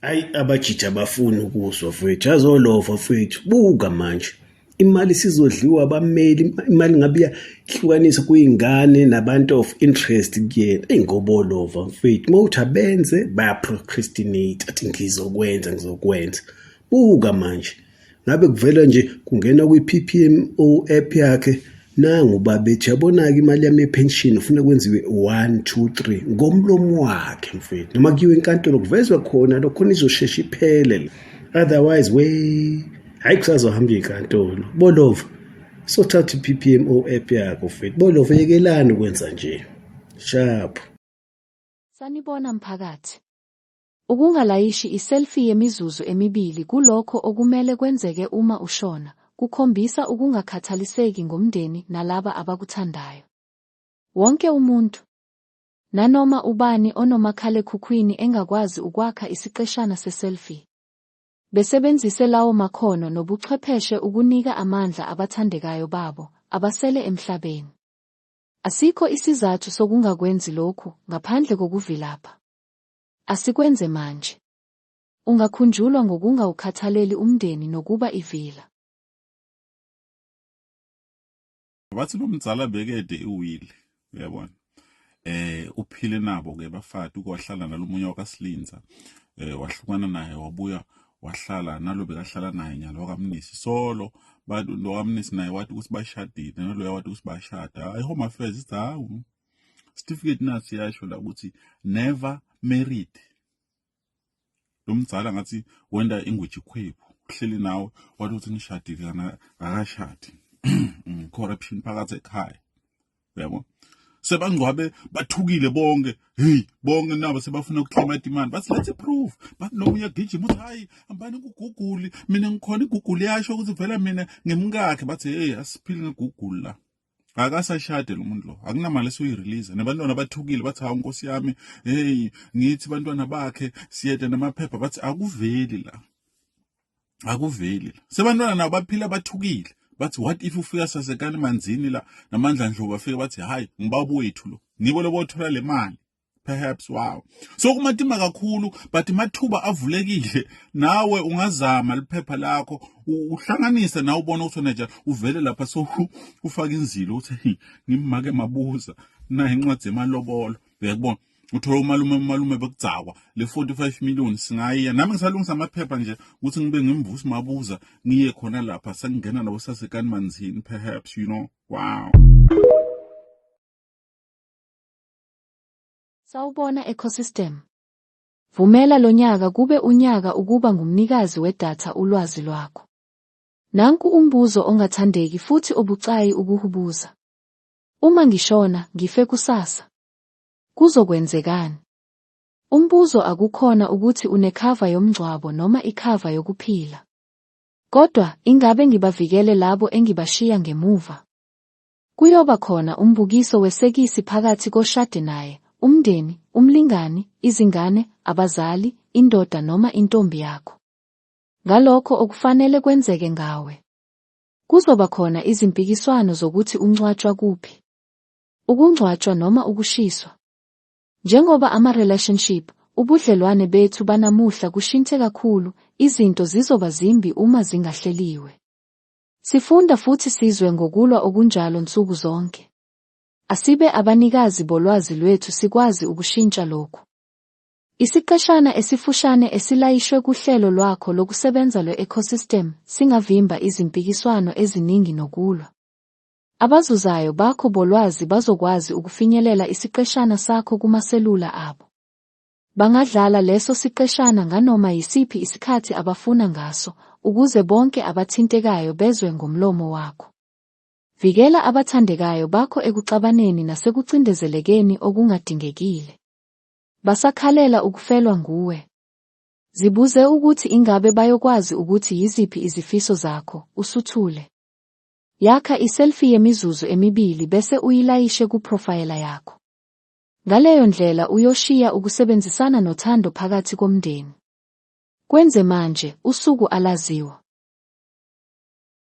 Hayi abajiji abafuni ukuzwa mfowethu, azolova mfowethu. Buka manje imali sizodliwa abameli, imali ngabe iyahlukanisa kuyingane nabantu of interest kuyena. Eyi ngobolova mfowethu, uma uthi abenze bayaprocrastinate, athi ngizokwenza ngizokwenza. Buka manje. ngabe kuvela nje kungena kwi-PPMO app yakhe nangu babethi yabona-ke imali yami yepension ufuna kwenziwe one two three ngomlomo wakhe mfethu noma kuyiwe enkantolo kuvezwa khona lokho khona izoshesha iphele otherwise we hhayi kusazohamba inkantolo bolova sothatha i-ppmo app yakho mfethu bolova yekelani ukwenza nje shaphu sanibona mphakathi Ukungalayishi i-selfie yemizuzu emibili kulokho okumele kwenzeke uma ushona, kukhombisa ukungakhathaliseki ngomndeni nalaba abakuthandayo. Wonke umuntu, nanoma ubani onomakhalekhukhwini engakwazi ukwakha isiqeshana se-selfie. Besebenzise lawo makhono nobuchwepheshe ukunika amandla abathandekayo babo abasele emhlabeni. Asikho isizathu sokungakwenzi lokhu ngaphandle kokuvilapha. Asikwenze manje. Ungakhunjulwa ngokungawukhathaleli umndeni nokuba ivila. Bathi lo mzala bekede iwile, uyabona. Eh uphile nabo ke bafati ukwahlala nalomunye wakaSilinza. Eh wahlukana naye wabuya wahlala nalo bekahlala naye nyalo wakamnisi solo bantu lo kamnisi naye wathi ukuthi bashadile naloya wathi ukuthi bashada i home affairs ithi hawu certificate nathi yasho la ukuthi never married lo mzala ngathi wenda ingweji khwephu uhleli nawe wathi uthi nishadile kana akashadi mm, corruption phakathi ekhaya yabo sebangcwabe bathukile bonke hey bonke nabo sebafuna ukuclaima demand bathi let's prove bathi nomunye gijima uthi hayi hambani kuguguli mina ngikhona iguguli yasho ukuthi vela mina ngimkakhe bathi hey asiphili ngeguguli la akasashade lo muntu lo akunamali esuyirelease nebantwana bathukile bathi hawu nkosi yami hey ngithi bantwana bakhe siyede namaphepha bathi akuveli la akuveli la sebantwana nabo baphila bathukile bathi what if ufika sasekani manzini la namandla ndlovu afike bathi hayi ngibaba wethu lo nibo lobothola le mali perhaps wow so kumatima kakhulu but mathuba avulekile nawe ungazama liphepha lakho uhlanganise nawe ubona ukuthi nje uvele lapha so ufaka inzilo uthi ngimake mabuza na incwadi yemalobolo uyakubona uthola umalume umalume bekugcakwa le 45 million singayiya nami ngisalungisa amaphepha nje ukuthi ngibe ngimvusi mabuza ngiye khona lapha sengingena nabo sasekani manzini perhaps you know wow Sawubona Ecosystem. Vumela lonyaka kube unyaka ukuba ngumnikazi wedatha ulwazi lwakho. Nanku umbuzo ongathandeki futhi obucayi ukuhubuza. Uma ngishona, ngife kusasa. Kuzokwenzekani? Umbuzo akukhona ukuthi unekhava yomngcwabo noma ikhava yokuphila. Kodwa ingabe ngibavikele labo engibashiya ngemuva? Kuyoba khona umbukiso wesekisi phakathi koshade naye, umndeni, umlingani, izingane, abazali, indoda noma intombi yakho. Ngalokho okufanele kwenzeke ngawe. Kuzoba khona izimpikiswano zokuthi ungcwatshwa kuphi. Ukungcwatshwa noma ukushiswa. Njengoba ama-relationship, ubudlelwane bethu banamuhla kushinthe kakhulu, izinto zizoba zimbi uma zingahleliwe. Sifunda futhi sizwe ngokulwa okunjalo nsuku zonke. Asibe abanikazi bolwazi lwethu sikwazi ukushintsha lokhu. Isiqeshana esifushane esilayishwe kuhlelo lwakho lokusebenza lwe-ecosystem singavimba izimpikiswano eziningi nokulwa. Abazuzayo bakho bolwazi bazokwazi ukufinyelela isiqeshana sakho kumaselula abo. Bangadlala leso siqeshana nganoma yisiphi isikhathi abafuna ngaso ukuze bonke abathintekayo bezwe ngomlomo wakho. Vikela abathandekayo bakho ekuxabaneni nasekucindezelekeni okungadingekile. Basakhalela ukufelwa nguwe. Zibuze ukuthi ingabe bayokwazi ukuthi yiziphi izifiso zakho, usuthule. Yakha iselfie yemizuzu emibili bese uyilayishe kuprofayela yakho. Ngaleyo ndlela uyoshiya ukusebenzisana nothando phakathi komndeni. Kwenze manje, usuku alaziwa.